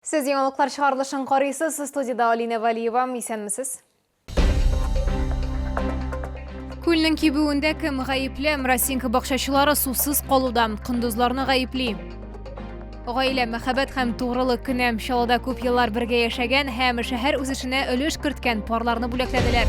Сез яңалыклар чыгарылышын карыйсыз, студиядә Алина Валиева, исәнмесез? Күлнең кибүендә кем гаепле? Мрасинка бакчачылары сусыз калуда кондызларны гаепли. Гаилә, мәхәббәт һәм тугрылык көне. Чаллыда күп еллар бергә яшәгән һәм шәһәр үсешенә өлеш керткән парларны бүләкләделәр.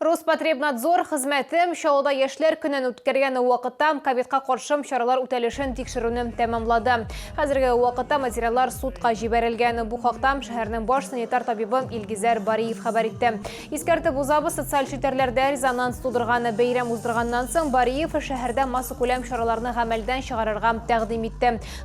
Роспотребнадзор хезмәте Чаллыда яшьләр көнен үткәргән вакытта ковидка каршы чаралар үтәлешен тикшерүне тәмамлады. Хәзерге вакытта материаллар судка җибәрелгән. Бу хакта шәһәрнең баш санитар табибы Илгизәр Бариев хәбәр итте. Искәртеп узабыз, социаль челтәрләрдә резонанс тудырган бәйрәм уздырганнан соң Бариев шәһәрдә массакүләм чараларны гамәлдән чыгарырга тәкъдим итте.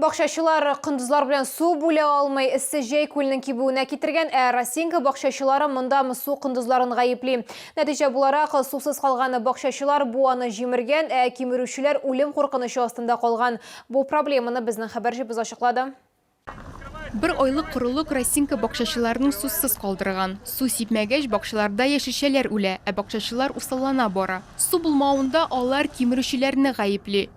Бакчачылар кондызлар белән су бүлә алмый, эссе җәй күлнең кибүенә китергән, ә Росинка бакчачылары монда мсу кондызларын гаепли. Нәтиҗә буларак, сусыз калган бакчачылар буаны җимергән, ә кимерүчеләр үлем куркынычы астында калган. Бу проблеманы безнең хәбәрчебез ачыклады. Бер айлык корылык Росинка бакчачыларның сусыз калдырган. Су сипмәгәч, бакчаларда яшелчәләр үлә, ә бакчачылар усаллана бара. Су булмавында алар кимерүчеләрне гаепли.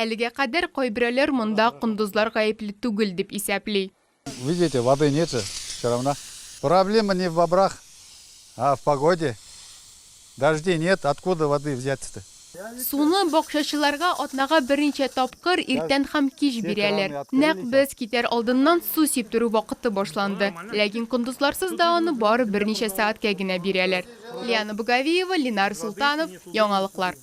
Әлегә кадәр кайберәүләр монда кондызлар гаепле түгел дип исәпли. Видите, воды нету все равно. Проблема не в бобрах, а в погоде. Дождей нет, откуда воды взять-то? Суны бакчачыларга атнага берничә тапкыр иртән һәм кич бирәләр. Нәкъ без китәр алдыннан су сиптерү вакыты башланды. Ләкин кондызларсыз да аны бары берничә сәгатькә генә бирәләр. Лиана Боговиева, Ленар Солтанов, Яңалыклар.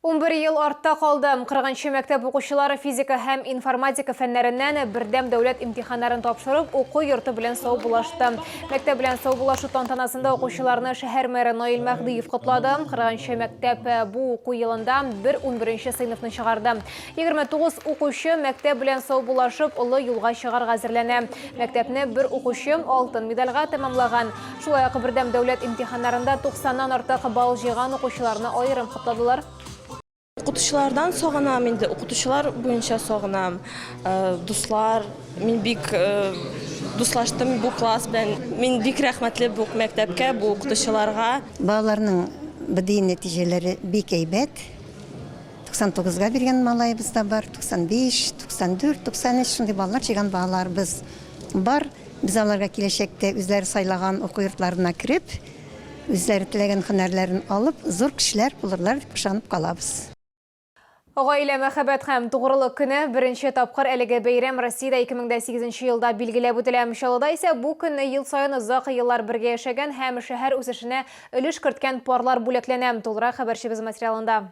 Унбер ел артта калды. Кырыгынчы мәктәп укучылары физика һәм информатика фәннәреннән бердәм дәүләт имтиханнарын тапшырып, уку йорты белән саубуллашты. Мәктәп белән саубуллашу тантанасында укучыларны шәһәр мэры Наил Мәһдиев котлады. Кырыгынчы мәктәп э, бу уку елында бер унберенче сыйныфны чыгарды. 29 укучы мәктәп белән саубуллашып, олы юлга чыгарга әзерләнә. Мәктәпне бер укучы алтын медальга тәмамлаган. Шулай ук бердәм дәүләт имтиханнарында 90ннан артык балл җыйган укучыларны аерым котладылар. Укытучылардан сагынам инде, укытучылар буенча сагынам. Э, дуслар, мин бик э, дуслаштым бу класс белән. Мин бик рәхмәтле бу мәктәпкә, бу укытучыларга. Балаларның БДИ нәтиҗәләре бик әйбәт. 99-га биргән малаебыз да бар, 95, 94, 93 шундый балалар җыйган балаларыбыз Бар, без аларга киләчәктә үзләре сайлаган уку йортларына кереп, үзләре теләгән һөнәрләрен алып, зур кешеләр булырлар дип ышанып калабыз. Гаилә, мәхәббәт һәм тугрылык көне, беренче тапкыр әлеге бәйрәм Россиядә 2008 нче елда билгеләп үтелә. Чаллыда исә бу көнне ел саен озак еллар бергә яшәгән һәм шәһәр үсешенә өлеш керткән парлар бүләкләнә. Тулырак хәбәрчебез материалында.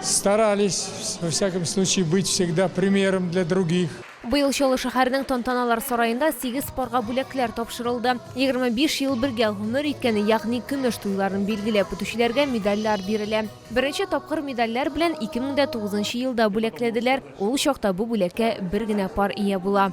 Старались, во всяком случае, быть всегда примером для других. Быел Чаллы шәһәренең тантаналар сараенда сигез парга бүләкләр тапшырылды. 25 ел бергә гомер иткәне, ягъни көмеш туйларын билгеләп үтүчеләргә медальләр бирелә. Беренче тапкыр медальләр белән 2009 елда бүләкләделәр. Ул чакта бу бүләккә бер генә пар ия була.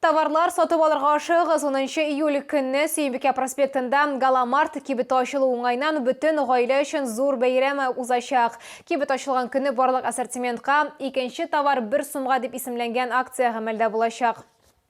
Товарлар сатып алырга ашыгыз 10 июль көнне Сөембикә проспектында Галамарт кибеті ачылу уңайнан бөтен гаилә өчен зур бәйрәм узачак. Кибет ачылган көнне барлык ассортиментка икенче товар бер сумга дип исемләнгән акция гамәлдә булачак.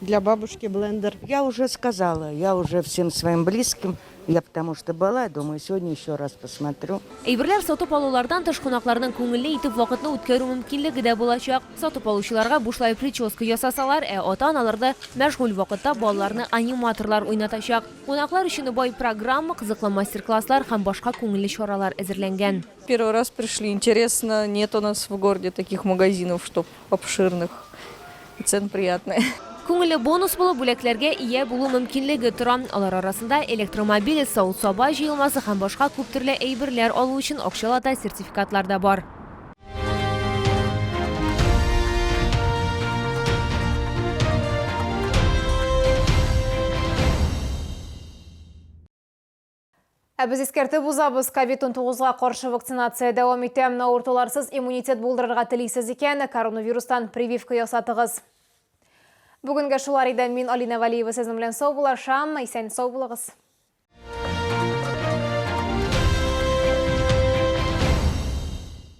Для бабушки блендер. Я уже сказала, я уже всем своим близким, я потому что была, думаю, сегодня еще раз посмотрю. Әйберләр сатып алулардан тыш кунакларның күңелле итеп вакытны үткәрү мөмкинлеге дә булачак. Сатып алучыларга бушлай прическа ясасалар, ә ата-аналар да мәшгуль вакытта балаларны аниматорлар уйнатачак. Кунаклар өчен бай программа, кызыклы мастер-класслар һәм башка күңелле чаралар әзерләнгән. Первый раз пришли, интересно, нет у нас в городе таких магазинов, чтобы обширных и цен приятные. Күңелле бонус булып бүләкләргә ия булу мөмкинлеге тора. Алар арасында электромобиль, савыт-саба җыелмасы һәм башка күп төрле әйберләр алу өчен акчалата сертификатлар да бар. Ә без искәртеп узабыз, COVID-19 га каршы вакцинация дәвам итә. Авыртуларсыз иммунитет булдырырга телисез икән, коронавирустан прививка ясатыгыз. Бүгенгә шулар иде. Мин Алина Валиева сезнең белән сау булашам. Исән сау булыгыз.